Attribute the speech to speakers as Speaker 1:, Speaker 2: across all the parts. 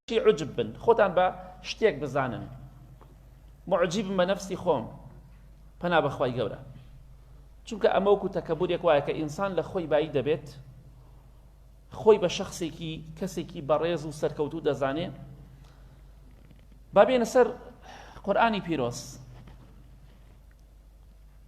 Speaker 1: چی عجب بن خۆتان بە شتێک بزانن معجیب بە نفسی خۆم پەنا بەخوای گەورە چونکە ئەمەوەکو تەکەبورێک وایە کە ئینسان لە خۆی بایی دەبێت خۆی بە شخصێکی کەسێکی بەڕێز و سەرکەوتو دەزانێ بابێنە سەر قورآانی پیرۆز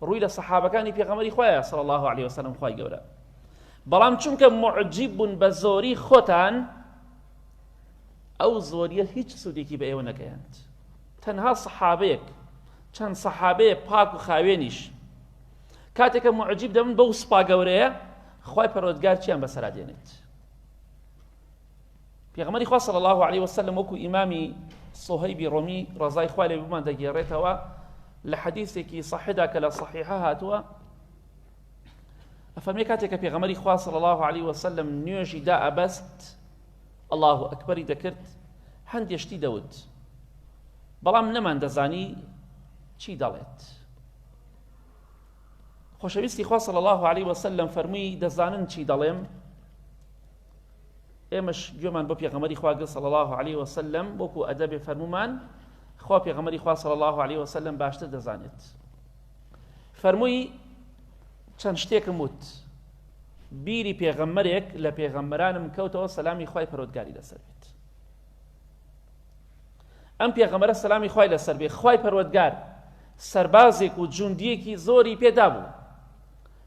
Speaker 1: ڕووی لە سەحابەکانی پێغەمەری خۆیان صلی الله علیه وسلم خوای گەورە بەڵام چونکە معجیب بوون بە زۆری خۆتان ئەو زۆریە هیچ سوودێکی بە ئێوە نەگەیاند تەنها سەحابەیەک چەند سەحابەیە پاک و خاوێنیش کاتێکە معجیب دەبن بەو سپا گەورەیە خی پەرۆدگار چیان بەسەرا دێنێت پێغەمبەری خوا صلی الله علیه و سلم وەکو ئیمامی صهیبی ڕۆمی ڕەزای خوا لێ بمان دەگێڕێتەوە لە حەدیثێکی صحیحدا کە لە صحیحە هاتووە ئەفەرمێ کاتێک کە پێغەمبەری خوا صلی الله علیه و سلم نوێژی دا ئەبەست الله ئەکبەری دەکرد هەندێ شتی دەوت بەڵام نەمان دەزانی چی دەڵێت خۆشەویستی خوا صلی الله علیه و سلم فەرمووی دەزانن چی دەڵێم ئێمەش گوێمان بۆ پێغەمەری خوا گرت صلی الله علیه وسلم وەکو ئەدەبێ فەرمومان خوا پێغەمەری خوا صلی الله علیه وسلم باشتر دەزانێت فەرمووی چەند شتێکم وت بیری پێغەمەرێک لە پێغەمبەرانم کەوتەوە سەلامی خی پەرۆتگاری لەسەر بێت ئەم پێغەمەرە سەلامی خی لەسەر بێ خی پەروەگار سربازێک و جوندیەکی زۆری پێدا بوو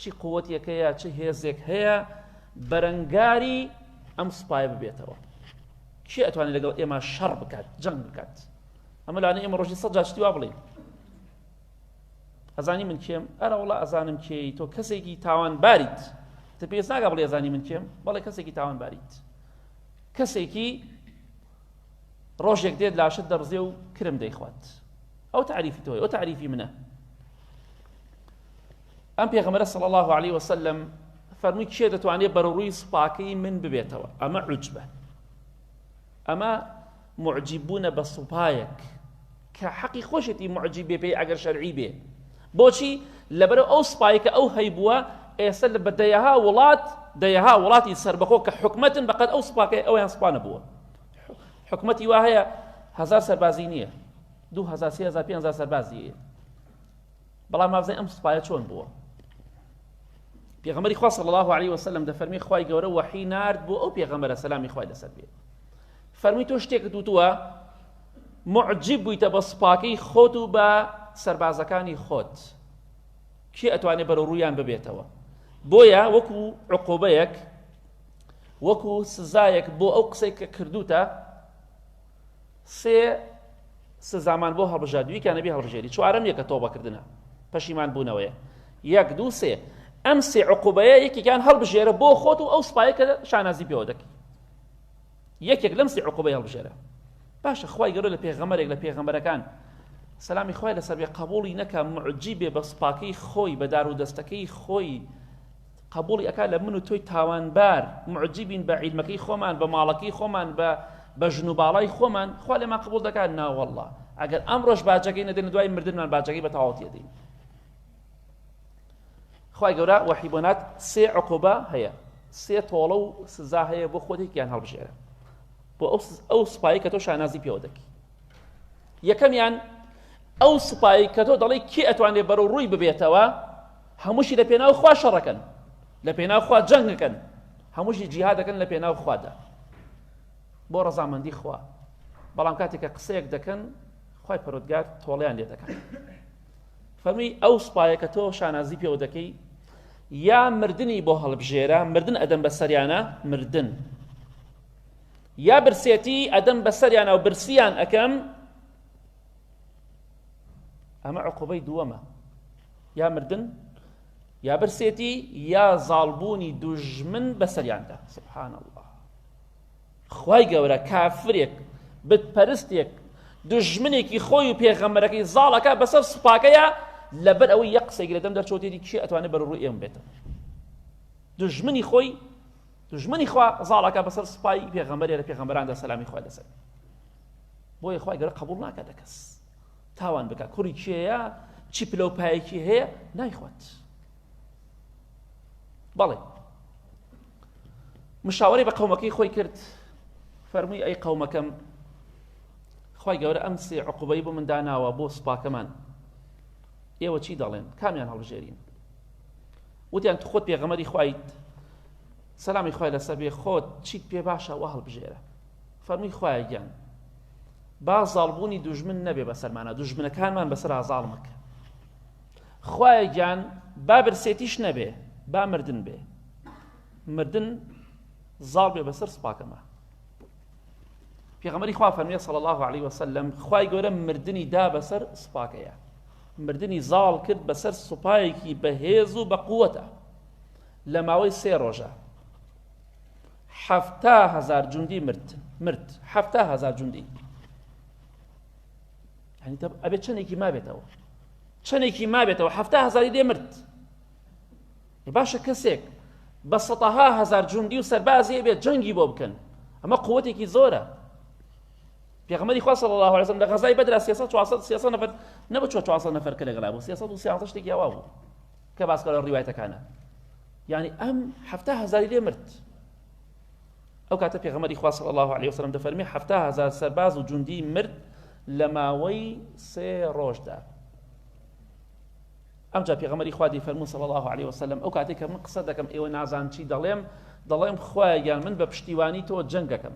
Speaker 1: چی قوتێکەیە چ هێزێک هەیە بەرەنگاری ئەم سوپایە ببێتەوە کێ ئەتوانێت لەگەڵ ئێمە شەڕ بکات جەنگ بکات ئەمە لاانە ئێمە ڕۆژی سەد جاشتی وا بڵین ئەزانی من کێم ئەرە وڵە ئەزانم کێی تۆ کەسێکی تاوان باریت تە پێست ناگە بڵێ ئەزانی من کێم بەڵێ کەسێکی تاوان باریت کەسێکی ڕۆژێک دێت لاشت دەڕزێ و کرم دەیخوات ئەو تعریفی تۆی ئەو تعریفی منە ئەم پێغەمبەرە صلی اللە علیە وسلم فەرمووی کێ دەتوانێت بەرەڕووی سوپاکەی من ببێتەوە ئەمە عجبە ئەمە معجیببوونە بە سوپایەک کە حەقی خۆشێتی معجیب بێ پێی ئەگەر شەرعی بێ بۆچی لەبەرەوە ئەو سوپایی کە ئەو هەیبووە ئێستا لە بە دەیەها وڵات دەیەها وڵاتی سربەخۆ کە حکومەتن بەقەت ئەو سوپاکەی ئەویان سوپانە بووە حکومەتی وا هەیە هزار سەربازی نییە دو هزار سێ هزار پێ هزار سەربازی بەڵام ماوزەی ئەم سوپایە چۆن بووە پێغەمەری خوا صلی الله علیه وسلم دەفەرمی خوای گەورە وحی نارد بۆ ئەو پێغەمەرە سەلامی خوای لەسەر بێت فەرمی تۆ شتێکت وتووە معجب بوویتە بە سوپاکەی خۆت و بە سربازەکانی خۆت کێ ئەتوانێت بەرە ڕوویان ببێتەوە بۆیە وەکو عقوبەیەک وەکو سزایەک بۆ ئەو قسەی کە کردوتە سێ سزامان بۆ هەڵبژارد ویکە نەبی هەڵبژێری چوارەم یەکە تۆبە کردنە پەشیمان بوونەوەیە یەک دوو سێ ئەم سێ عقوبەیە یەکێکیان هەڵبژێرە بۆ خۆت و ئەو سوپایە کە شانازی پێوە دەکەی یەکێک لەم سێ عقوبەی هەڵبژێرە باشە خی گەۆ لە پێغەمەرێک لە پێغەمەرەکان سەلامی خۆی لەسەر بێ قبولی نەکە معجی بێ بە سوپاکەی خۆی بە دار و دەستەکەی خۆی قبوڵی ئەکات لە من و تۆی تاوانبار معجبین بە عیلمەکەی خۆمان بە ماڵەکەی خۆمان بە بە ژن و باڵای خۆمان خوا لێمان قبول دەکات ناوەله ئەگەر ئەمڕۆژ باجەکەی نەدەین دوای مردنمان باجەکەی بە تەواوەتی دەین خی گەورە وەحیبنات سێ عقوبە هەیە سێ تۆڵە و سزا هەیە بۆ خۆتێکیان هەڵبژێرە بۆ ئەو سوپایی کە تۆ شانازی پێوە دەکی یەکەمیان ئەو سوپایی کە تۆ دەڵی کێ ئەتوانێت بەرەو ڕووی ببێتەوە هەمووشی لە پێناو خوا شەڕەکەن لە پێناو خوا جەنگەکەن هەمووشی جیهادەکەن لە پێناو خوادا بۆ ڕەزامەندی خوا بەڵام کاتێک کە قسەیەک دەکەن خی پەرۆتگار تۆڵیان لێ دەکەن فەرمی ئەو سوپایە کە تۆ شانازی پێوە دەکەی یا مردنی بۆ هەڵبژێرە مردن ئەدەم بە سەریانە مردن یا برسێتی ئەدەم بە سەریانە و برسیان ئەەکەم ئەمە عقوبەی دووەمە یا مردن یا برسێتی یا زاڵبوونی دوژمن بەسەریاندا سبحان الله خی گەورە کافرێک بتپەرستێک دژمنێکی خۆی و پێغەمەرەکەی زاڵەکە بەسەر سوپاکەیە لەبەر ئەوەی یە قسەی گرێدەم دەرچۆتێتی کێ ئەتوانێت بەر ڕوو ئێم بێتەوە دژمنی خۆی دژمنی خوا زاڵەکە بەسەر سوپای پێغەمەرێ لە پێغەمەراندا سەلامی خوا لەسەر بۆیە خوای گەورە قبول ناکە لە کەس تاوان بکە کوڕی کێیە چی پلە و پایەکی هەیە نایخوات بەڵێ مشاوەی بە قەومەکەی خۆی کرد فەرمووی ئەی قەومەکەم خی گەورە ئەم سێ عقوبەی بۆ مندا ناوە بۆ سوپاکەمان ئێوە چی دەڵێن کامیان هەڵبژێرین وتیان تو خۆت پێغەمەری خویت سەلامی خخوای لەسەر بێ خۆت چیت پێ باشە وە هەڵبژێرە فەرمووی خوایە گیان با زاڵبوونی دوژمن نەبێ بەسەرمانە دوژمنەکانمان بەسەرا زاڵ مەکە خوایە گیان با برسێتیش نەبێ با مردن بێ مردن زاڵ بێ بەسەر سپاکەمە پێغەمەری خوا فەرمیە صلی الله عليه وسلم خوای گەورە مردنی دا بەسەر سپاکەیە مردنی زاڵ کرد بەسەر سوپایەکی بەهێز و بە قووەتە لە ماوەی سێ ڕۆژە حەفتا هەزار جوندی مرد مرد حەفتا هەزار جوندی ئەبێت چەندێکی مابێتەوە چەندێکی مابێتەوە حەفتا هەزاری دێ مرد باشە کەسێک بە سەتەها هەزار جوندی و سەربازی بێت جەنگی بۆ بکەن ئەمە قوتێکی زۆرە پێغمەری خوا صلی الله عليه وسلم لە غەزای بەدرا 300 400 300 نفر نەبوو 400 نفر کە لەگەڵا بوو 300 و 300 شتێکی ئەوا بوو کە باسکە لە ڕیوایەتەکانە یعنی ئەم حفتا هزاری لێ مرد ئەو کاتە پێغەمەری خواص الله عليه وسلم دەفەرمی حفتا هزار سەرباز و جوندی مرد لە ماوەی سێ ڕۆژدا ئەمجا پێغەمەری خوادی فەرمو صلی الله عليه وسلم ئەو کاتێک کە من قسە دەکەم ئێوە نازان چی دەڵێم دەڵێم خوایان من بە پشتیوانی تۆ جەنگ دەکەم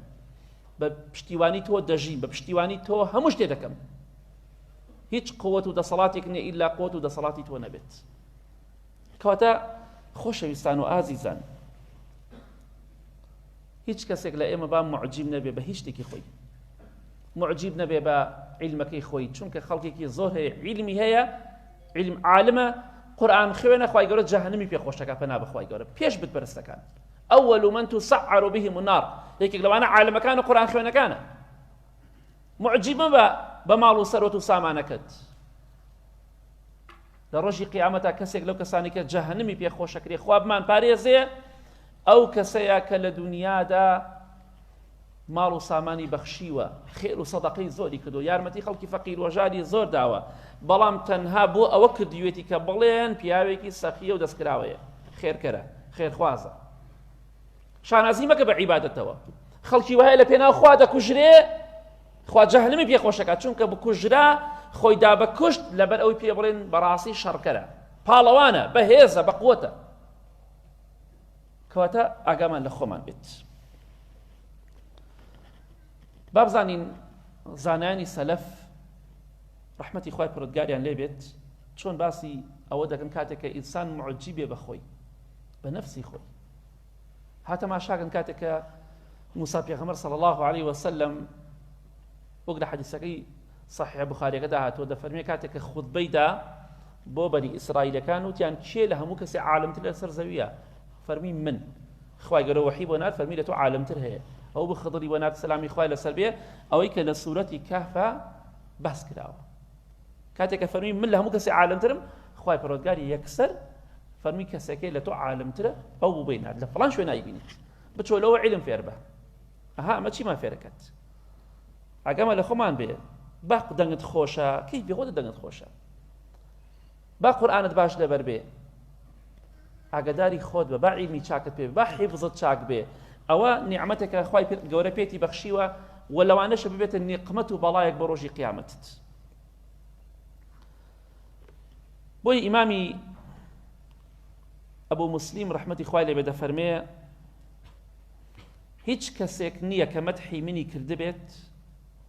Speaker 1: بە پشتیوانی تۆ دەژین بە پشتیوانی تۆ هەموو شتێ دەکەم هیچ قوت و دەسەڵاتێک نیە ئیلا قوت و دەسەڵاتی تۆ نەبێت کەواتە خۆشەویستان و ئازیزان هیچ کەسێک لە ئێمە با معجیب نەبێ بە هیچ شتێکی خۆی معجیب نەبێ بە عیلمەکەی خۆی چونکە خەڵکێکی زۆر هەیە عیلمی هەیە عیلم عالمە قورآن خوێنە خی گەورە جەهنمی پێ خۆشەکە پەنا بەخوای گەورە پێش بتپەرستەکان ئەوەل و من تو سەعر و بهی منار یەکێک لەوانە عالمەکان و قورآن خوێنەکانە معجب مەبە بە ماڵ و سەروەت و سامانەکەت لە ڕۆژی قیامەتا کەسێک لەو کەسانی کە جەهنمی پێ خۆشەکرێ خوابمان پارێزێ ئەو کەسەیە کە لە دنیادا ماڵ و سامانی بەخشیوە خێر و سەدەقەی زۆری کردو یارمەتی خەڵکی فەقیر وەژاری زۆر داوە بەڵام تەنها بۆ ئەوە کردوێتی کە بڵێن پیاوێکی سەخیە و دەستکراوەیە خێرکەرە خێرخوازە شانازی مەکە بە عیبادەتەوە خەڵکی وایە لە پێناو خوا دەکوژرێ خوا جەهنمی پێ خۆشەکە چونکە بکوژرا خۆی دا بە کوشت لەبەر ئەوی پێ بڵێن بەڕاستی شەڕکەرە پاڵەوانە بەهێزە بە قوتە کەواتە ئاگامان لە خۆمان بێت بابزانین زانانی سەلەف ڕحمەتی خی پرۆتگاریان لێبێت چۆن باسی ئەوە دەکەن کاتێککە ئینسان معجی بێ بەخۆی بە نەفسی خۆی ها تەماشاکەن کاتێک کە موسا پێغەمەر صلی الله عليه وسلم وەک لە حەدیسەکەی صحیح بخاریەکەدا هاتووە دەفەرمێ کاتێک کە خودبەیدا بۆ بەری ئیسرائیلەکان وتیان کێ لە هەموو کەسی عالمتر لەسەر زەویە فەرمی من خخوای گەرە وحی بۆ نار فەرمی لە تۆ عالمتر هەیە ئەو بخدڵی بۆ نار سەلامی خوای لەسەر بێ ئەوەی کە لە سوورەتی کەفە بەس کراوە کاتێک کە فەرمی من لە هەموو کەسی عالمترم خوای پەرۆتگاری یەکسەر فەرمی کەسەکەی لە تۆ عالمترە ئەو بوو بینات لە فلان شوێ نایبینیت بچۆ لەوە علم فێر بە ئەها ئەمە چیمان فێرەکەت ئەگەمە لە خۆمان بێ باق دەنگت خۆشە کەی بێخۆدە دەنگت خۆشە با قورئانت باش لەبەر بێ ئاگداری خۆت بە با عیلمی چاکت پێ با حیبزت چاک بێ ئەوە نیعممەتێکە خی گەورە پێێتی بەخشیوە و لەوانەشە ببێتە نیقمەت و بەڵایەک بە ڕۆژی قیامەتت بۆی ئیمامی ئەبوو مسلیم ڕحمەتی خوای لێ بێدە فەرمێ هیچ کەسێک نییە کە مەتحی منی کردبێت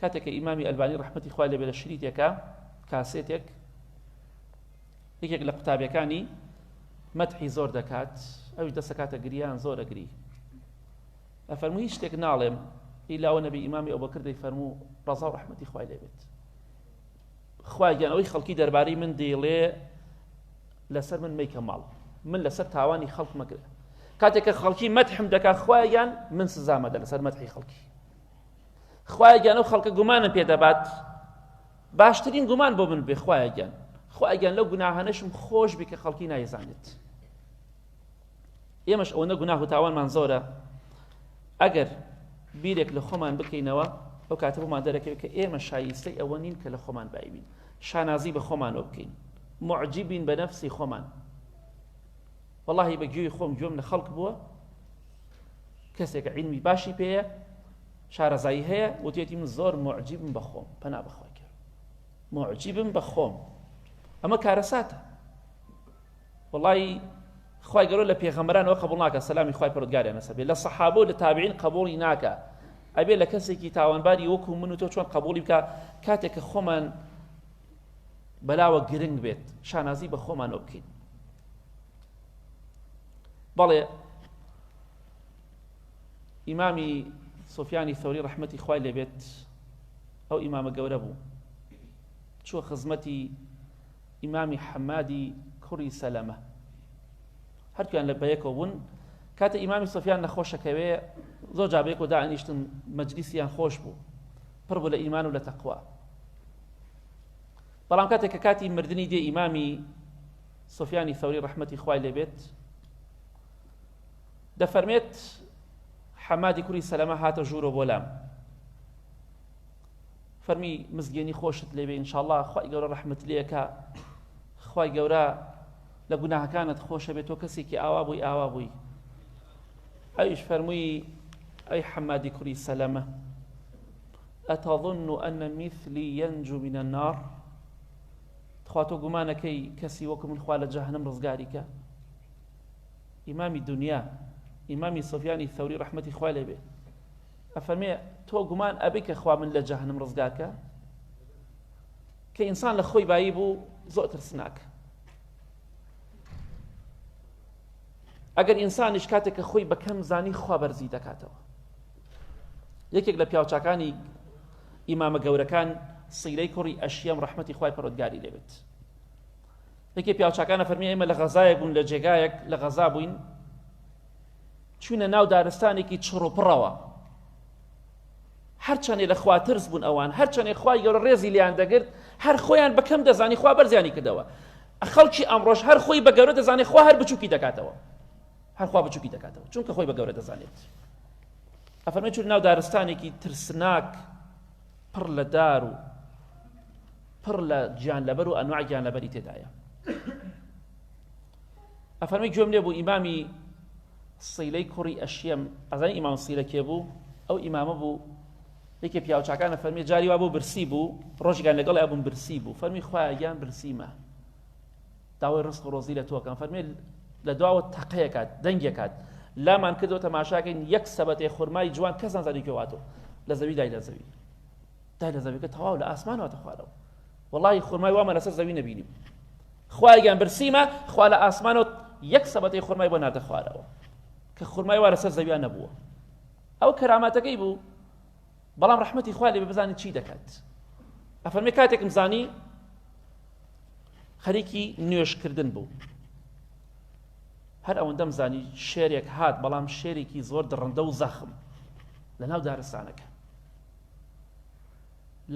Speaker 1: کاتێک کە ئیمامی ئەلبانی ڕحمەتی خوای لەبێ لە شریتێکە کاسێتێک یەکێک لە قوتابەکانی مەتحی زۆر دەکات ئەوش دەسەکاتە گریان زۆر ئەگری ئەفەرمو هیچ شتێک ناڵێم ئیلاوە نەبی ئیمامی ئەو بەکردەی فەرموو ڕزا و ڕحمەتی خوای لێبێت خواگیان ئەوەی خەڵکی دەربارەی من دەیڵێ لەسەر من میکە ماڵ من لەسەر تاوانی خەڵک مەگرە کاتێک کە خەڵکی مەتحم دەکات خوایان من سزامەدە لەسەر مەتحی خەڵکی خوایە گیان ئەو خەڵکە گومانم پێ دەبات باشترین گومان بۆ من بێ خوایە گیان خوایە گیان لەو گوناهانەشم خۆش بێ کە خەڵکی نایزانێت ئێمەش ئەوەنە گوناه و تاوانمان زۆرە ئەگەر بیرێک لە خۆمان بکەینەوە ئەو کاتە بۆمان دەرەکەوێت کە ئێمە شایستەی ئەوە نین کە لە خۆمان بایبین شانازی بە خۆمانەوە بکەین معجیبین بە نەفسی خۆمان واللهی بە گوێی خۆم گوێم لە خەڵک بووە کەسێکە عیلمی باشی پێیە شارەزایی هەیە وتێتی من زۆر معجیبم بە خۆم پەنا بەخوای کرد معجیبم بە خۆم ئەمە کارەساتە وڵی خی گەۆ لە پێغەمەرانەوە قبول ناکە سەلامی خی پرودگاریان نەسە بێ لە سەحاب و لە تابعین قبولی ناکە ئەبێ لە کەسێکی تاوانباری وەکو من و تۆ چۆن قبولی بکە کاتێک کە خۆمان بەلاوە گرنگ بێت شانازی بە خۆمانەوە بکەین بەڵێ ئیمامی سۆفیانی سەوری ڕحمەتی خوای لێبێت ئەو ئیمامە گەورە بوو چوە خزمەتی ئیمامی حەمادی کوڕی سەلەمە هەرتویان لە بەیەکەوە بوون کاتە ئیمامی سۆفیان نەخۆشەکەوێ زۆر جابێک و دانیشتن مەجلیسیان خۆش بوو پڕ بوو لە ئیمان و لە تەقوا بەڵام کاتێک کە کاتی مردنی دێ ئیمامی سفیانی ثەوری ڕەحمەتی خوای لێ بێت دەفەرمێت حەمادی کوری سەلەمە هاتە ژوورۆ بۆ لام فەرمی مزگێنی خۆشت لێبێ انشاءله خی گەورە ڕحمت لەکە خی گەورە لە گوناهەکانت خۆشە بێت تۆ کەسێکی ئاوا بووی ئاوا بووی ئەویش فەرمووی ئەی حەمادی کوری سەلەمە ئەتەظن و ئەنە میثلی یەنج و منە نار تخوا تۆ گومانەکەی کەسی وەکو من خوا لە جەهەنم ڕزگاریکە ئیمامی دنیا ئیمامی سفیانی ثوری ڕحمەتی خوا لێ بێ ئەفەرمێ تۆ گومان ئەبی کە خوا من لە جەهنم ڕزگاکە کە ئینسان لە خۆی بایی بوو زۆر ترسناکە ئەگەر ئینسانیش کاتێک کە خۆی بەکەم زانی خوا بەرزی دەکاتەوە یەکێک لە پیاوچکانی ئیمامە گەورەکان سیرەی کوڕی ئەشیەم ڕەحمەتی خوای پەرۆدگاری لێبێت یەکێ پیاوچکانە فەرمی ئێمە لە غەزایەک بوون لە جێگایەک لە غەزا بووین چوینە ناو دارستانێکی چڕوپڕەوە هەرچەندێ لە خوا ترس بوون ئەوان هەرچەندێ خوای گەورە ڕێزی لیان دەگرت هەر خۆیان بەکەم دەزانی خوا بەرزیانی کردەوە خەڵکی ئەمڕۆژ هەر خۆی بە گەورە دەزانێت خوا هەر بچووکی دەکاتەوە هەرخوا بچووکی دەکاتەوە چونکە خۆی بە گەورە دەزانێت ئەفەرمێ چون ناو دارستانێکی ترسناک پڕ لە دار و پڕ لە گیان لەبەر و ئەنواع گیان لەبەری تێدایە ئەفەرمی گوێم لێ بوو ئیمامی سیلەی کوڕی ئەشیەم ئەزانی ئیمام سیلە کێ بوو ئەو ئیمامە بوو یەکێ پیاوچکانە فەرمی جاری وا بۆ برسی بوو ڕۆژگان لەگەڵ ئەبووم برسی بوو فەرمی خوایان برسیمە داوای ڕزق و ڕۆزی لە تۆ ئەکەم فەرمووی لە دواوە تەقەیەک هات دەنگێک هات لامان کردەوە تەماشاکەین یەک سەبەتەی خورمای جوان کەس نازانی کوێ هاتوو لە زەوی دای لە زەوی دای لە زەویەکە تەواو لە ئاسمان هاتە خوارەوە وەڵی خورمای وامە لەسەر زەوی نەبینیم خوایگەیان برسیمە خوا لە ئاسمانەوە یەک سەبەتی خورمای بۆ ناتە خوارەوە کە خورمای وا لەسەر زەویان نەبووە ئەو کەراماتەکەی بوو بەڵام ڕەحمەتی خوا لێ بزانین چی دەکات ئەفەرمێ کاتێکم زانی خەریکی نوێشکردن بوو هەر ئەوەندەم زانی شێرێک هات بەڵام شێرێکی زۆر دڕندە و زەخم لە ناو دارستانەکە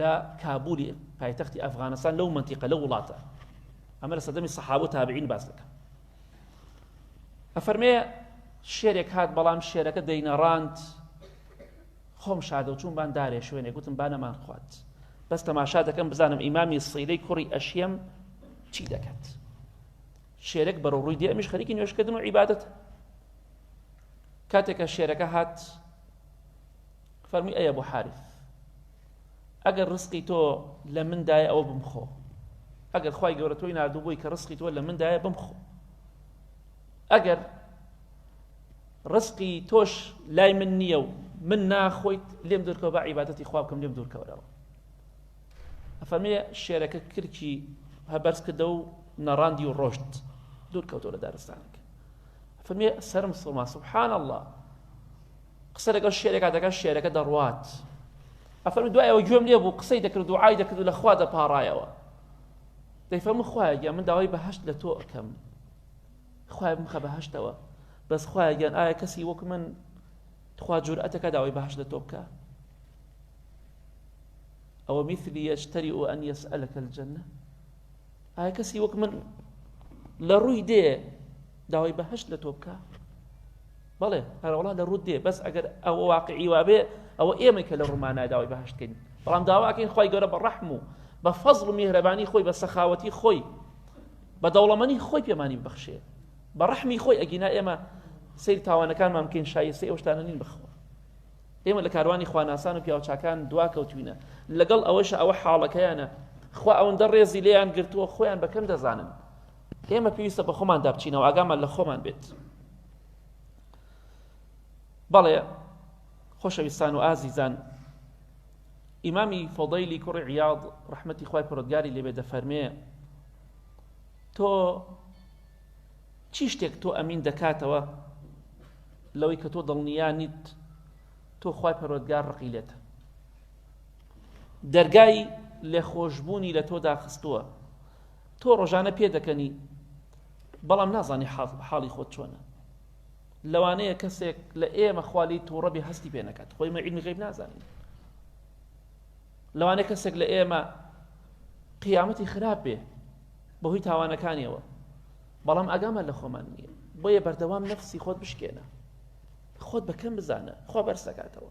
Speaker 1: لە کابولی پایتەختی ئەفغانستان لەو منتیقە لە وڵاتە ئەمە لە سەدەمی سەحاوە تابعین باس دەکەم ئەفەرمێ شێرێک هات بەڵام شێرەکە دەینەڕاند خۆم شاردەوە چووم بان دارێ شوێنێک وتم با نەمان خوات بەس تەماشا دەکەم بزانم ئیمامی صیلەی کوڕی ئەشیەم چی دەکات شێرەک بەرەو ڕووی دێ ئەمیش خەریکی نوێشکردن و عیبادەت کاتێکە شێرەکە هات فەرمی ئەیە بۆ حارف ئەگەر ڕسقی تۆ لە مندایە ئەوە بمخۆ ئەگەر خی گەورە تۆی نردوو بووی کە ڕسقی تۆ لە مندایە بمخۆ ئەگەر ڕسقی تۆش لای من نییە و من ناخۆیت لێم دورکەوە بە عیباەتی خوا بکەم لێم دوورکەورەوە ئەفەرمێ شێرەکە کرکی هەبەرز کردە و نەڕاندی و ڕۆشت دوورکەوتەوە لە دارستانەکە فەرمێ سرم سڵما سبحان الله قسە لەگەڵ شێرەکە دەکە شێرەکە دەڕوات ئەفەرم دوایەوە گوێم لێ بوو قسەی دەکرد و ئای دەکرد و لەخوا دەپاڕایەوە دەیفەرمو خوایە من داوای بەهشت لە تۆ ئەەکەم خوایە بمخە بەهەشتەوە بەس خوایە گیان ئایا کەسی وەک من تخوا جورئەتەکە داوای بەهەش لە تۆ بکە ئەوە میثلی یەشتەری و ئەن یەسئەلەکە الجنە ئایا کەسی وەک من لە ڕووی دێ داوای بەهەشت لە تۆ بکە بەڵێ هەرەوڵا لە ڕوو دێ بەس ئەگەر ئەوە واقعی وابێ ئەوە ئێمە کە لە ڕوومانە داوای بەهشتکەین بەڵام داواکەین خی گەورە بە ڕەحم و بە فەزڵ و میهرەبانی خۆی بە سەخاوەتی خۆی بە دەوڵەمەنی خۆی پێمانی ببەخشێ بە ڕەحمی خۆی ئەگینا ئێمە سیر تاوانەکانمان بکەین شایستی ئەو شتانە نین بخوا ئێمە لە کاروانی خواناسان و پیاوچکان دوا کەوتوینە لەگەڵ ئەوەش ئەوە حاڵەکەیانە خوا ئەوەندە ڕێزی لێیان گرتووە خۆیان بەکەم دەزانن ئێمە پێویستە بە خۆمان دابچینەوە ئاگامان لە خۆمان بێت بەڵێ خۆشەویستان و ئازیزان ئیمامی فۆدەیلی کوڕی عیاض ڕحمەتی خی پرۆگاری لێبێ دەفەرمێ تۆ چی شتێک تۆ ئەمین دەکاتەوە لەوەی کە تۆ دڵنیا نیت تۆ خی پەرۆدگار ڕقی لێت دەرگای لێخۆشببوونی لە تۆدا خستووە تۆ ڕۆژانە پێ دەکەنی بەڵام نازانی حاڵی خۆت چۆنە لەوانەیە کەسێک لە ئێمە خالی تووڕەبی هەستی پێ نەکات خۆی مەعیدمی غیب نازانین لەوانەیە کەسێک لە ئێمە قیامەتی خراپ بێ بەهۆی تاوانەکانیەوە بەڵام ئەگامان لە خۆمان نییە بۆیە بەردەوام نەفسی خۆت بشکێنە خۆت بەکەم بزانە خۆ بەرز دەکاتەوە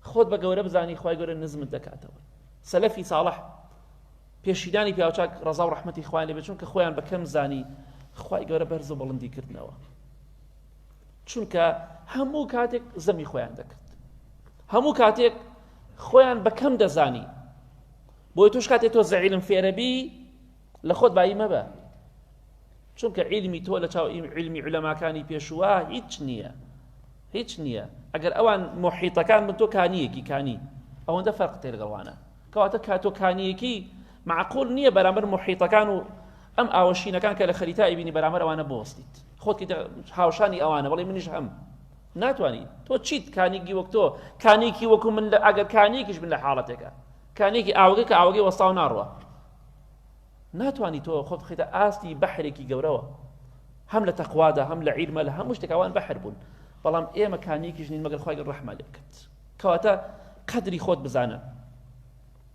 Speaker 1: خۆت بە گەورە بزانی خی گەورە نزمت دەکاتەوە سەلەفی ساڵح پێشیدانی پیاوچاک ڕزا و ڕحمەتی خوان لێ بچون کە خۆیان بەکەم زانی خی گەورە بەرز و بڵندی کردنەوە چونکە هەموو کاتێک زەمی خۆیان دەکرد هەموو کاتێک خۆیان بەکەم دەزانی بۆی توش کاتێک تۆ زەعیلم فێرەبی لە خۆت بایی مەبە چونکە علمی تۆ لە چاو علمی علەماکانی پێشووە هیچ نییە هیچ نییە ئەگەر ئەوان محیتەکان من تۆ کانیەکی کانی ئەوەندە فەرق تێرگەڵوانە کەواتە کاتۆ کانیەکی معقول نییە بەرامبەر محیتەکان و ئەم ئاوەشینەکان کە لە خەریتا ئەبینی بەرامبەر ئەوانە بۆستیت خۆتی دە هاوشانی ئەوانە بەڵی منیش هەم ناتوانی تۆ چیت کانێکی وەک تۆ کانێکی وەکو من لە ئەگەر کانێکیش من لە حاڵەتێکە کانێکی ئاوگە کە ئاوگەی وەستا و ناڕوە ناتوانی تۆ خۆت خیتە ئاستی بەحرێکی گەورەوە هەم لە تەخوادا هەم لە عیرمە لە هەموو شتێکوان بەحر بوون بەڵام ئێمە کانێکیش نین مەگەر خخوای ڕحمە لێکرد کەواتە قەدری خۆت بزانە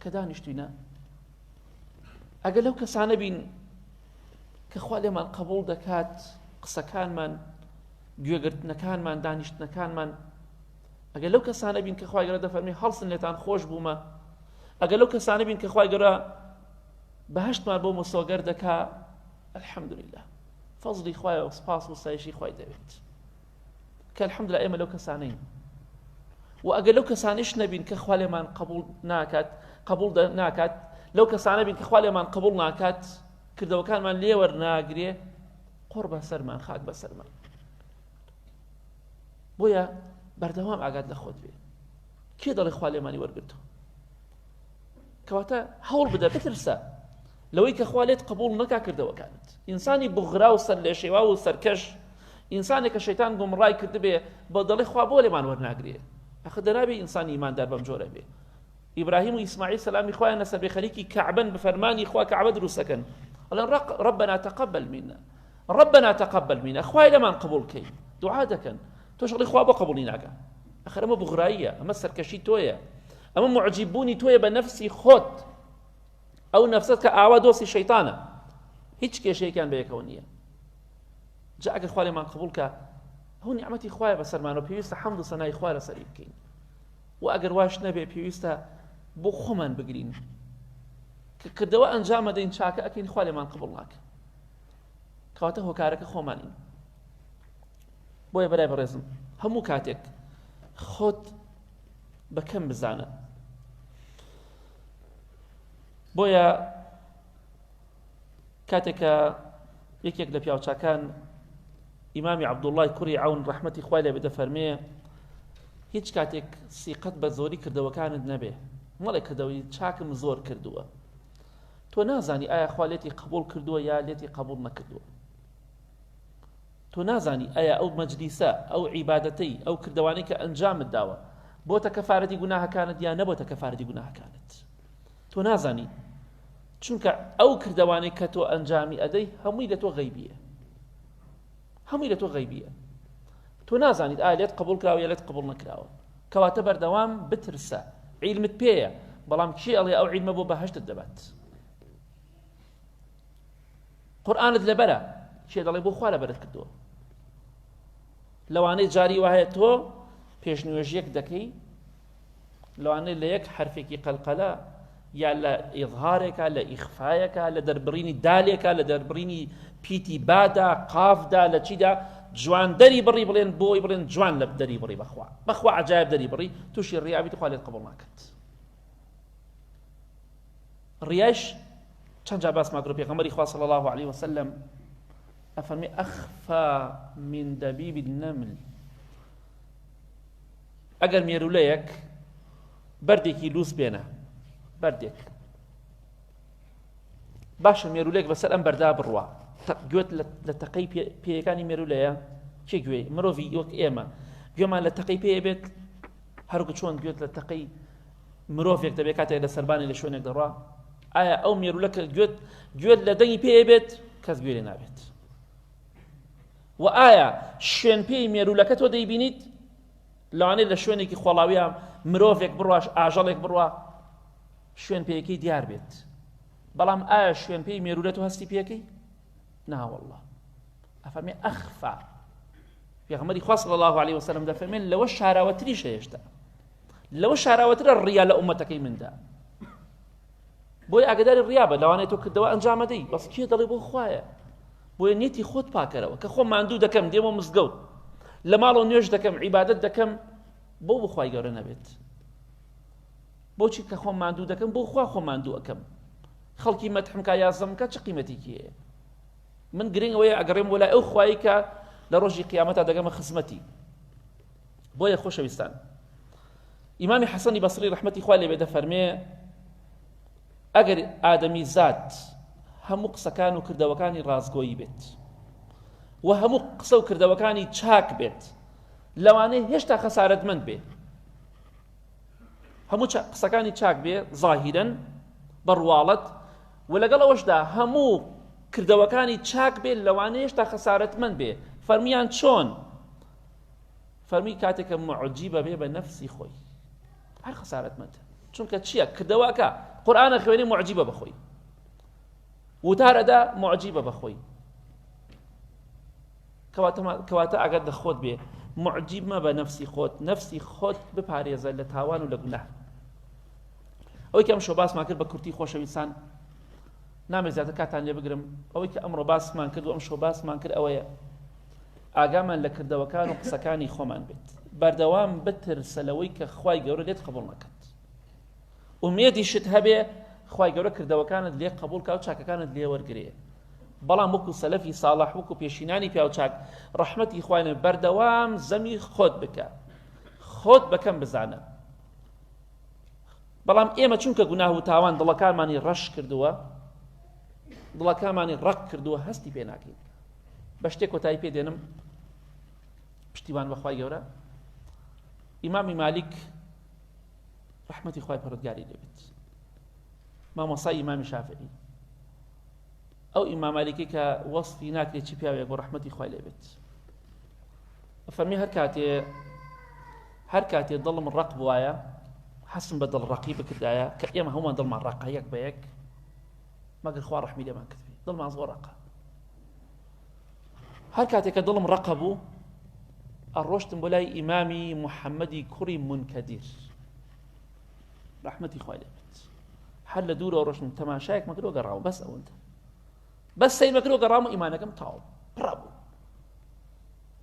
Speaker 1: کە دانیشتوینە ئەگەر لەو کەسانە بین کە خوا لێمان قبول دەکات قسەکانمان گوێگرتنەکانمان دانیشتنەکانمان ئەگەر لەو کەسانە بین کە خخوای گەرە دەفەرمی هەڵسن لێتان خۆش بوومە ئەگەر لەو کەسانە بین کە خخوای گەرە بەهشتمان بۆ مسۆگەر دەکا الحەمدلله فەزلی خوایە و سپاس و سایشی خی دەوێت کە الحمدللە ئێمە لەو کەسانەین و ئەگەر لەو کەسانیش نەبین کە خوا لێمان قبول ناکات قبول ناکات لەو کەسانە بین کە خوا لێمان قبول ناکات کردەوەکانمان لێوەر ناگرێ قڕ بە سەرمان خاک بە سەرمان بۆیە بەردەوام ئاگات لە خۆت بێ کێ دەڵێ خوا لێمانی وەرگتو کەواتە هەوڵ بدە بترسە لەوەی کە خوا لێت قبول نەکا کردەوەکانت ئینسانی بغرا و سەر لێ شێوا و سەرکەش ئینسانێک کە شەیتان گومڕای کردبێ بە دەڵی خوا بۆ لێمان وەرناگرێ ئەخە دەنابێ ئینسانی ئیماندار بەم جۆرە بێ ئیبراهیم و ئیسماعیل سەلامی خوایان لەسەر بێ خەریکی کەعبن بە فەرمانی خوا کەعبە دروستەکەن ئەڵێن ڕق ڕبنا تقبل منا ڕبنا تقبل منا خوای لەمان قبول کەی دوعا دەکەن تۆش ئەڵێی خوا بۆ قبوڵی ناکا ئەخر ئەمە بغراییە ئەمە سەرکەشی تۆیە ئەمە معجیب بوونی تۆیە بە نەفسی خۆت ئەو نەفسەت کە ئاوا دۆستی شەیتانە هیچ کێشەیەکان بەیەکەوە نییە جا ئەگەر خوارێمان قبول کە هەو نیعممەتی خوایە بەسەرمانەوە پێویستە حەمد و سەنای خوا لە سەری بکەین و ئەگەر واش نەبێ پێویستە بۆ خۆمان بگرین کە کردەوە ئەنجامە دەین چاکە ئەکەین خوالێمان قبڵ ناکە کەواتە هۆکارەکە خۆمانین بۆیە برای بەڕێزم هەموو کاتێک خۆت بەکەم بزانە بۆیە کاتێکە یەکێک لە پیاوچکان ئیمامی عبدوڵای کوڕی ئەون ڕحمەتی خوای لە بدە فەرمێ هیچ کاتێک سیقەت بە زۆری کردەوەکانت نەبێ مەڵێ کردەوەی چاکم زۆر کردووە تۆ نازانی ئایا خوا لێتی قبول کردووە یا لێتی قبول نەکردووە تۆ نازانی ئایا ئەو مەجلیسە، ئەو عیبادەتەی، ئەو کردەوانەی کە ئەنجامت داوە، بۆتە کەفارەتی گوناهەکانت یا نەبۆتە کەفارەتی گوناهەکانت؟ تۆ نازانی، چونکە ئەو کردەوانەی کە تۆ ئەنجامی ئەدەی هەمووی لە تۆ غەیبیە. هەمووی لە تۆ غەیبیە. تۆ نازانیت ئایا لێت قبول کراوە یا لێت قبول نەکراوە. کەواتە بەردەوام بترسە. عیلمت پێیە، بەڵام کێ ئەڵێ ئەو عیلمە بۆ بەهەشتت دەبات؟ قورآنت لەبەرە کێ دەڵێ بۆ خوا لەبەرت کردووە لەوانەی جاری وایە تۆ پێشنوێژیەک دەکەی لەوانەیە لە یەک حرفێکی قەلقەلە یا لە ئێظهارێکە لە ئیخفاەکە لە دەربڕینی دالێکە لە دەربڕینی پیتی بادا قافدا لە چیدا جوان دەری بڕی بڵێن بۆی بڵێن جوان لە دەری بڕی بەخوا بەخوا عجایب دەری بڕی تووشی ڕیابیت خوا لێت قبڵ ناکەت ڕیایش چەند جا باسمان کرد پێغەمبەری خوا صلی الله علیه وسلم ئەفەرمی ئەخفا من دەبیب النمل ئەگەر مێرولەیەک بەردێکی لوس بێنە بەردێک باشە مێرولێک بەسەر ئەم بەردا بڕوە گوێت لە تەقەی پێیەکانی مێرولەیە چێ گوێ مرۆڤی وەک ئێمە گوێمان لە تەقەی پێ بێت هەرکو چۆن گوێت لە تەقەی مرۆڤێک دەبێت کاتێک لە سەربانی لە شوێنێک دەڕا ئایا ئەو مێرولە کە گوێت گوێت لە دەنگی پێ بێت کەس گوێ لێ نابێت و ئایا شوێن پێی مێرولەکە تۆ دەیبینیت لەوانێ لە شوێنێکی خۆڵاویە مرۆڤێک بڕواش ئاژەڵێک بڕوا شوێن پێەکەی دیار بێت بەڵام ئایا شوێن پێی مێرولە تۆ هەستی پێەکەی ناوەڵڵا ئەفەرمێ ئەخفا پێغمەری خوا صلی الله عليه وسلم دەفەرمێن لەوە شاراوەتریش هێشتا لەوە شاراوەترە ڕیا لە ئومەتەکەی مندا بۆی ئاگداری ڕیا بە لەوانێت تۆ کردەوە ئەنجامەدەی بەس کێ دەڵێ بۆ خوایە بۆیە نیەتی خۆت پاکەرەوە کە خۆ ماندوو دەکەم دێمە مزگەوت لە ماڵەوە نوێش دەکەم عیبادت دەکەم بۆ بخوای گەورە نەبێت بۆچی کە خۆم ماندوو دەکەم بۆ خوا خۆم ماندوو ئەکەم خەڵکی مەتحم کا یازم کا چ قیمەتێکی هەیە من گرنگ ئەوەیە ئەگەڕێم وەلای ئەو خوایی کە لە ڕۆژی قیامەتا دەگەمە خزمەتی بۆیە خۆشەویستان ئیمامی حەسەنی بەسری ڕحمەتی خوا لێ بێدە فەرمێ ئەگەر ئادەمی زات هەموو قسەکان و کردەوەکانی ڕازگۆیی بێت و هەموو قسە و کردەوەکانی چاک بێت لەوانەیە هێشتا خەسارەتمەند بێت هەموو قسەکانی چاک بێ ظاهیرن بە ڕواڵەت و لەگەڵ ئەوەشدا هەموو کردەوەکانی چاک بێت لەوانە هێشتا خەسارەتمەند بێ فەرمیان چۆن فەرمی کاتێکە معجیبە بێ بە نەفسی خۆی هەر خەسارەتمەند چونکە چییە کردەوەکە قورآانە خوێنی معجیبە بەخۆی وتارەدا معجیبە بەخۆی کەواتە کەواتە ئاگات لە خۆت بێ معجیب مەبە نەفسی خۆت نەفسی خۆت بپارێزە لە تاوان و لە گوناه ئەوەی کە ئەم شۆ باسمان کرد بە کورتی خۆشەویستان نامێ زیاتر کاتان لێ بگرم ئەوەی کە ئەمڕۆ باسمان کرد و ئەم شۆ باسمان کرد ئەوەیە ئاگامان لە کردەوەکان و قسەکانی خۆمان بێت بەردەوام بترسە لەوەی کە خی گەورە لێت قبول نەکەن ئومێدی شت هەبێ خی گەورە کردەوەکانت لێ قبول کا و چاکەکانت لێ وەرگێ بەڵام وەکو سەلەفی ساڵح وەکو پێشینانی پیاوچاک ڕەحمەتی خوای لێ بەردەوام زەمی خۆت بکە خۆت بەکەم بزانە بەڵام ئێمە چونکە گوناه و تاوان دڵەکانمانی ڕەش کردووە دڵەکانمانی ڕق کردووە هەستی پێ ناکەین بە شتێک کۆتایی پێ دێنم پشتیوان بەخوای گەورە ئیمامی مالیک ڕحمەتی خخوای پەرۆگاری دەبێت مامۆسای ئیمامی شافعی ئەو ئیمام مالکی کە وەصفی ناکرێت چی پیاوێک بۆ ڕەحمەتی خوای لێ بێت فەرمی هەر کاتێ هەر کاتێ دڵم ڕق بواە حەسم بە دڵ ڕقی بکردایە کە ئێمە هەمووان دڵمان ڕقە یەک بە یەک مەگەر خوا ڕحمی لێمان کردی دڵمان زۆر ڕقە هەر کاتێک کە دڵم ڕقە بوو ئەڕۆشتم بۆ لای ئیمامی محەممەدی کوڕی منکەدیر ڕەحمەتی خوای لێ بێت هەر لە دوورەوە ڕۆشتم تەماشایەکمە کرد و گەڕاوە بەس ئەوەندە بەس سەیرمە کرد و گەڕام و ئیمانەکەم تاو پڕا بوو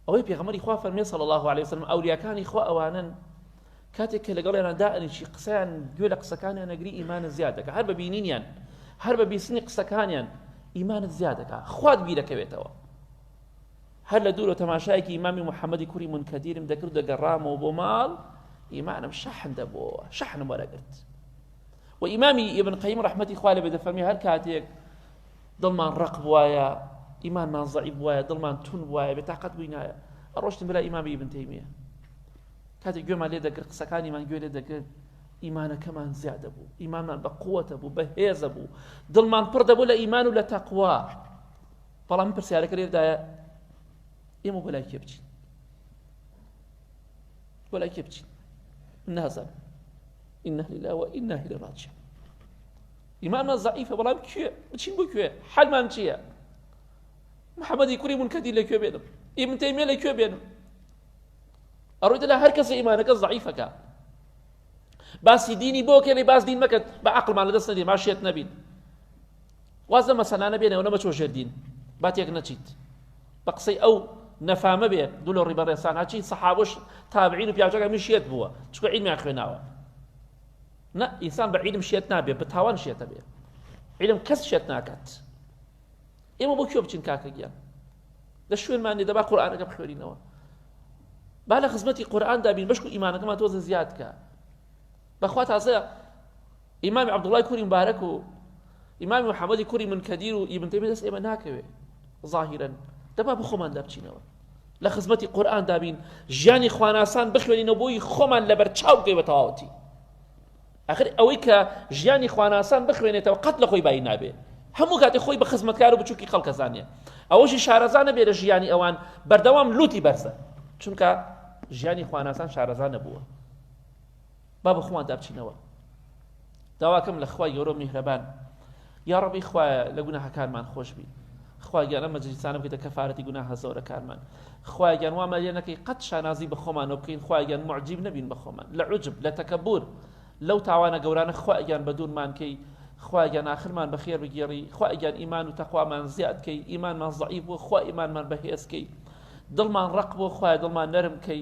Speaker 1: ئەوەی پێغەمەری خوا فەرمێ صلی الله عليه وسلم ئەولیاکانی خوا ئەوانن کاتێک کە لەگەڵیانە دائنیشی قسەیان گوێ لە قسەکانیان نەگری ئیمانە زیاد دەکە هەر بە بینینیان هەر بە بیستنی قسەکانیان ئیمانت زیاد دەکا خوات بیرەکەوێتەوە هەر لە دوورەوە تەماشایەکی ئیمامی محەممەدی کوڕی منکەدیرم دەکرد دەگەڕامەوە بۆ ماڵ ئیمانم شەحن دەبووەوە شەحنم وەرەگرت و ئیمامی ئبن قەیم ڕحمەتی خوا لە بێدەفەرمی هەر کاتێک دڵمان ڕق بواە ئیمانمان زەعی بواە دڵمان تون وایە بێتاقەت بووینایە ئەڕۆشتن بلا ئیمامی ئبن تەیمیە کاتێک گوێمان لێ دەگرت قسەکانیمان گوێ لێ دەگرت ئیمانەکەمان زیادە بوو ئیمانمان بە قووەتە بوو بە هێزە بوو دڵمان پڕ دەبوو لە ئیمان و لە تەقوا بەڵام پرسیارەکە لێردایە ئێمە بۆ لای کێ بچین بۆ لای کێ بچین من نازان إنه لله وإنه إليه راجعون ئیمانمان زعیفە بەڵام کوێ بچین بۆ کوێ حەلمان چییە محەممەدی کوری منکەدی لە کوێ بێنم ئیمن تەیمێ لە کوێ بێنم ئەڕۆیتە لە هەر کەسە ئیمانەکە زعیفەکە باسی دینی بۆ کێنی باس دین مەکەن بە عقلمان لەدەست نەدی ماشێت نەبین واز لە مەسەلانە بێنەوە نە مەچۆ ژێر دین با تێک نەچیت بە قسەی ئەو نەفامە بێ دوو لە ڕیبە ڕێسان هەچی سەحابش تابعین و پیاچەکە میشێت بووە چکە عیلمیان خوێناوە نە ئینسان بە عیلم شێت نابێ بە تاوان شێتە بێ عیلم کەس شێت ناکات ئێمە بۆ کوێ بچین کاکە گیان لە شوێنمانی دەبا قورآانەکە بخوێنینەوە با لە خزمەتی قورآاندا بین بەشکو ئیمانەکەمان تۆزە زیادکە بەخوا تازە ئیمامی عەبدوڵای کوری مبارەک و ئیمامی محەممەدی کوری منکەدیر و ئیبن تەیمیە دەست ئێمە ناکەوێ ظاهیرەن دەبا بە خۆمان دابچینەوە لە خزمەتی قورآن دابین ژیانی خواناسان بخوێنینەوە بۆی خۆمان لەبەر چاو بکەی بە تەواوەتی ئەخر ئەوەی کە ژیانی خواناسان بخوێنێتەوە قەت لە خۆی بای نابێ هەموو کاتی خۆی بە خزمەتکار و بچووکی خەڵکەزانە ئەوەشی شارەزانە بێرە ژیانی ئەوان بەردەوام لوتی بەرزە چونکە ژیانی خواناسان شارەزانە بووە با بە خۆمان دابچینەوە داواکەم لە خوای گەورە میهرەبان یا ڕەبی خوایە لە گوناهەکانمان خۆشبی خواگیان ئەمە جلیسانە بکەیتە کەفاەتی گوناهە زۆرەکانمان خواگیان وامان لێ نەکەی قەت شانازی بە خۆمانەوە بکەین خواگیان معجیب نەبین بە خۆمان لە عجب لە تەکەبور لەو تاوانە گەورانە خواگیان بە دوورمان کەی خواگیان آخرمان بە خێر بگێڕی خواگیان ئیمان و تەخوامان زیاد کەی ئیمانمان زعیف بوو خوا ئیمانمان بەهێزکەی دڵمان ڕق بۆ خوای دڵمان نەرم کەی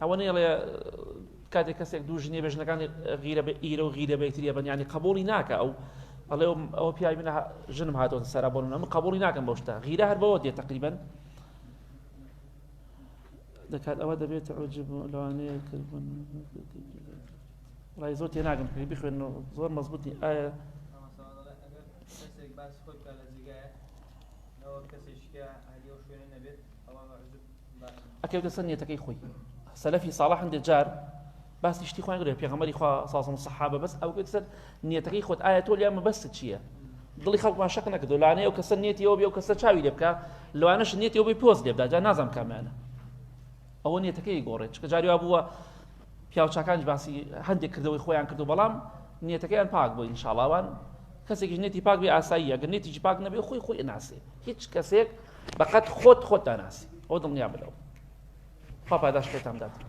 Speaker 1: ئەوە نەیڵێ کاتێک کەسێک دوو ژنی بێژنەکانی غیرە بە ئیرە و غیرە بەیتریە بەنیانی قبولی ناکە ئەو ئەڵێ ئەوە پیاوی منە ژنم هاتۆن سەرا بۆ من قبولی ناکەم بەو شتا غیرە هەر بەوە دێ تقریبن دەکات ئەوە دەبێت عجب لەوانەیە کردبوون ڕای زۆر تێناگەم پێ بخوێن زۆر مەزبوتی ئایا کەسێک ئەکەوتە سەر نیەتەکەی خۆی سەلەفی ساڵح هەندێک جار باسی شتی خۆیان گرێ پێغەمەری خوا سازم سەحابە بەس ئەو گوت سەر نیەتەکەی خۆت ئایا تۆ لیان مەبەست چییە دڵی خەڵکمان شەق نەکردو لانەیە و کەسە نیەتیەوە بێ و کەسە چاوی لێ بکە لەوانەش نیەتەوە بی پۆز لێبدا جا نازانم کامانە ئەوە نیەتەکەی گۆڕێت چکە جاریا بووە پیاوچکانش باسی هەندێک کردەوەی خۆیان کردو بەڵام نیەتەکەیان پاک بۆ ئینشاڵاوان کەسێکیش نێتی پاک بێ ئاسایی ئەگەر نێتیجی پاک نەبێ خۆی خۆی ناسێ هیچ کەسێک بەقەد خۆت خۆت داناسی ئەوە دڵنیابە لەوە خوا پاداشت خێرتان بداتەوە.